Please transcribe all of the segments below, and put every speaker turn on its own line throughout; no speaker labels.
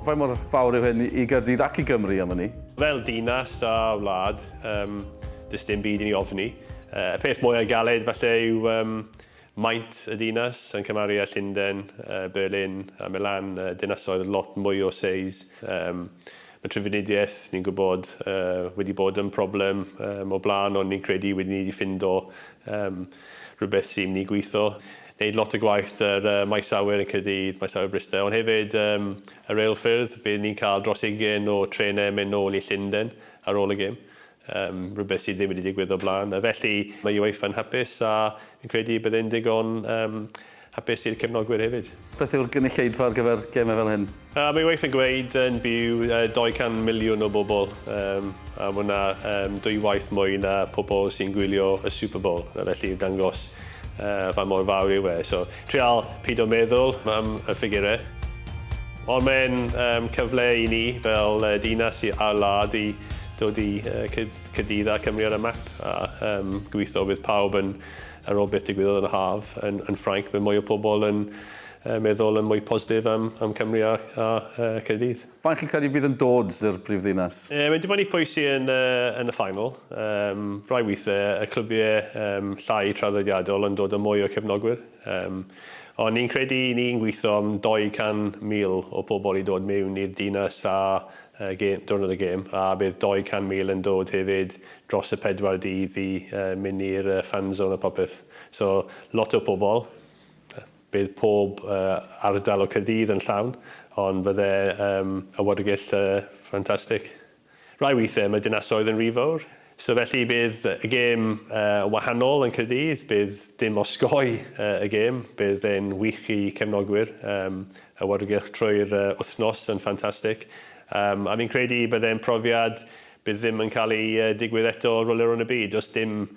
Faint mor fawr yw hyn i Gaerdydd ac i Gymru am ynni? Fel dinas
a wlad, um, does dim byd i ni ofni. Uh, y peth mwyaf galed falle yw um, maint y dinas yn cymharu â Llundain, uh, Berlin a Milan, uh, dinasoedd lot mwy o seis. Um, Mae trafnidiaeth, ni'n gwybod, wedi bod yn problem o'r blaen ond ni'n credu wedi ni ffindo rhywbeth sy'n mynd i gweithio. Wneud lot o gwaith ar Maes Awyr yn Caerdydd, Maes Awyr Bryste ond hefyd y reilffyrdd, bydd ni'n cael dros ugain o trenau yn mynd nôl i Llundain ar ôl y gêm. Yym, rhywbeth sydd ddim wedi digwydd o'r blaen, a felly mae UEFA yn hapus a fi'n credu y byddai'n ddigon yym hapus i'r cefnogwyr hefyd. Beth yw'r gynulleidfa
ar gyfer gemau fel hyn? Yy, mae UEFA yn gweud
yn byw yy 200 miliwn o bobl, yym, a ma' hwnna yym dwy waith mwy na pobl sy'n gwylio y Super Bowl, a felly yn dangos Yy, faint mor fawr yw e? So, trial pido meddwl am y ffigure. Ond mae'n yym cyfle i ni fel yy dinas i a'r wlad i dod i yy cyd- cydydd â Cymru ar y map a yym gobeithio bydd pawb yn ar ôl beth digwyddodd yn y haf yn yn Ffrainc bydd mwy o pobl yn yy meddwl yn mwy positif am am Cymru a a yy Caerdydd. Faint chi'n credu bydd
yn dod i'r brifddinas? Yy mae 'di bod yn ipo'i sy
yn yy yn y final. Yym rai withe y clybiau yym llai traddodiadol yn dod â mwy o cefnogwyr. Yym ond ni'n credu ni'n gwitho am 200,000 o pobl i dod miwn i'r dinas a yy gêm diwrnod y gêm a bydd 200,000 yn dod hefyd dros y pedwar dydd i yy myn i'r yy fan zone a popeth. So lot o pobl. Yy. Bydd pob ardal o Caerdydd yn llawn, ond fydde y Watergyllt y ffantastig. Rai weithiau mae dinasoedd yn rhy fawr, so felly bydd y gêm yn wahanol yn Caerdydd, bydd dim osgoi y gêm, bydd e'n wych i cefnogwyr, y Watergylch trwy'r wythnos yn ffantastig, a fi'n credu bydde'n profiad Bydd ddim yn cael ei digwydd eto Rolerownd y Byd, does dim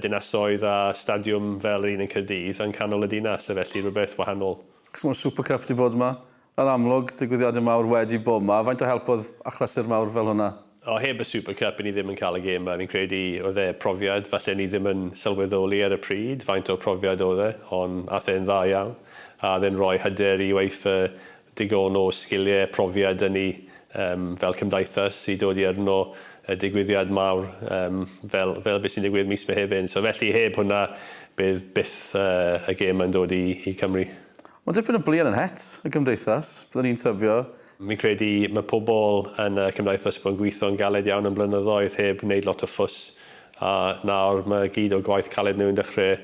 dinasoedd a stadiwm fel yr un yn Caerdydd yn canol y dinas, a felly rhywbeth wahanol. Achos mae'r Super Cup
wedi bod yma, yn amlwg, digwyddiadau mawr wedi bod yma, faint o help oedd achlysur mawr fel hwnna? O, heb y Super
Cup, 'yn ni ddim yn cael y gêm 'ma. Fi'n credu oedd e profiad, falle ni ddim yn sylweddoli ar y pryd faint o profiad oedd e, ond aeth e'n dda iawn, a oedd e'n rhoi hyder i UEFA digon o sgiliau, profiad yn ni fel cymdaithas i dod i arno y digwyddiad mawr fel beth sy'n digwydd mis Mehefin. So felly heb hwnna bydd byth y gêm yn dod i Cymru. Mae dipyn o bluen
yn het y cymdeithas, byddwn ni'n tybio. Fi'n credu
mae pobl yn y cymdaithas wedi bod yn gweithio'n galed iawn am blynyddoedd heb wneud lot o ffws A nawr mae gyd o gwaith caled nhw yn dechrau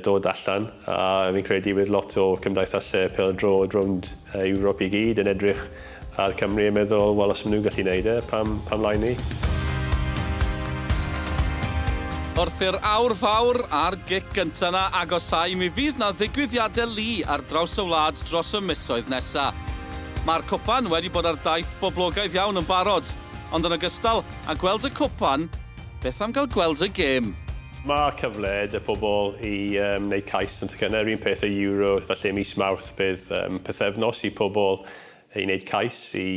dod allan, a fi'n credu bydd lot o cymdeithasau pêl-droed rownd Ewrop i gyd yn edrych ar Cymru yn meddwl, wel, os maen nhw'n gallu wneud e, pam, pam lai ni?
Wrth i'r aur fawr a'r gic gynta 'na agosáu, mi fydd 'na ddigwyddiadau lu ar draws y wlad dros y misoedd nesa'. Mae'r cwpan wedi bod ar daith boblogaidd iawn yn barod. Ond yn ogystal â gweld y cwpan, beth am gael gweld y gêm? Mae cyfle
'da pobl i wneud cais yn tocynnau, yr un peth â Euro, felly mis Mawrth bydd pythefnos i pobl i wneud cais i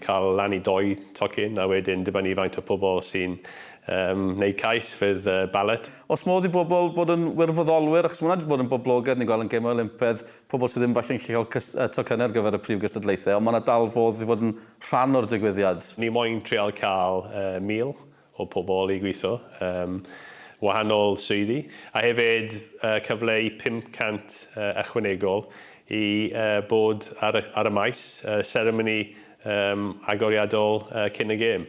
cael lan i dou tocyn a wedyn dibynnu faint o pobl sy'n wneud cais fydd ballot. Oes modd i bobl
fod yn wirfoddolwyr, achos mae hwnna 'di bod yn boblogaidd, ni'n gweld yn Gemau Olympaidd, pobl sydd ddim falle'n gallu cael tocynnau ar gyfer y prif gystadlaethau, ond mae 'na dal fodd i fod yn rhan o'r digwyddiad. Ni moyn trial
cael 1,000 o pobl i gweithio ym wahanol swyddi, a hefyd cyfle i 500 ychwanegol i bod ar y maes, seremoni agoriadol cyn y gêm.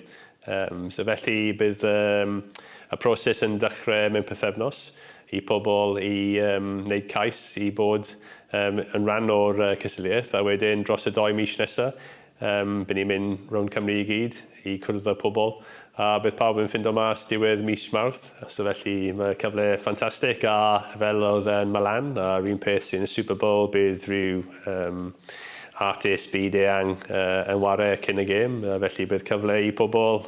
Felly bydd y proses yn dechrau mewn pythefnos, i pobl i wneud cais i bod yn rhan o'r cystadleuaeth, a wedyn dros y dou mis nesaf, by ni'n mynd rownd Cymru i gyd i cwrdd â pobl, a bydd pawb yn ffindo mas diwedd mis Mawrth. So felly mae cyfle ffantastig, a fel oedd yn Milan, a'r un peth sydd yn y Super Bowl, bydd rhyw artist byd eang yn ware cyn y gêm, felly bydd cyfle i pobl